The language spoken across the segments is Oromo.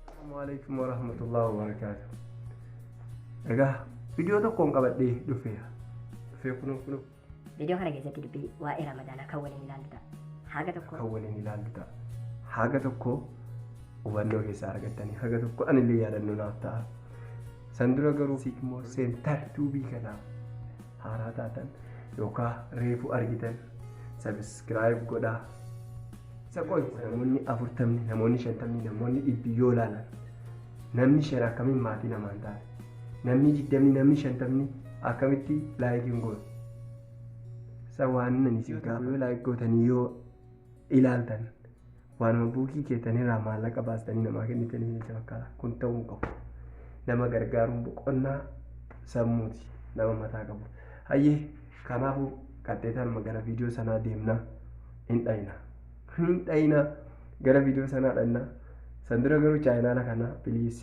Assalamualaikum warahmatullahi wabarakatuh. Egaa viidiyoo tokkoon qabadhee dhufeera. Dhufee kunoo kunoo Viidiyoo kana keessatti dubbii waa'ee Ramadaanaa kan waliin ilaallu ta'a. Haga tokko kan waliin ilaallu ta'a. Haga tokko hubannoo keessaa argattanii haga tokko anillee yaadannoo naaf ta'a. San dura garuu Sigmoo Seentar Tuubii kanaaf haaraa taatan yookaan reefu argitan sabiskiraayib godhaa. Isa qoy namoonni afurtamni namoonni shantamni namoonni dhibbi yoo ilaalan namni shan akkamiin maatii namaan ta'a namni digdamni namni shantamni akkamitti laayikiin goon isa waan inni isin gaafame laayik gootanii yoo ilaaltan Waanuma buukii keessaniirraa maallaqa baastanii namaa kennitaniif jecha fakkaata. Kun ta'uu hin qabu. Nama gargaaruun boqonnaa sammuuti nama mataa qabu. Hayyee kanaafuu qaxxeetaan gara viidiyoo sanaa deemna hin dhayina. Hin dhayina gara viidiyoo sanaa dhayina. San dura garuu chaayinaala kana biliis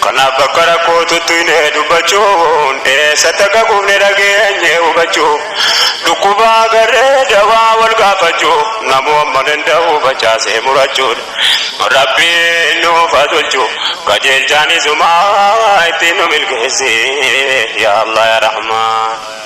Kanaaf bakka rakkoo tuttuine dubbachuun eessatti akka kufne dhageenye hubachuuf dhukkuba agarree dawaa wal gaafachuu namuu amma danda'u facaasee murachuun Rabbiin nuuf haa tolchu qajeelchaan isumaa ittiin nu milkeessi yaa Allah yaa Rahmaan.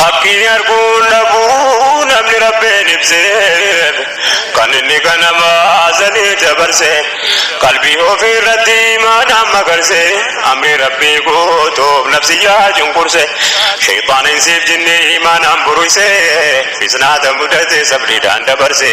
Haqni arguun dhabuu namni Rabbiin ibseef kan inni ganama azalii dabarse qalbii ofii irratti imaanaan magarse amrii Rabbii guutuuf nafsiyyaa cunqurse sheyxaana insiif jinni imaanaan buruyse fitnaata mudate sabriidhaan dabarse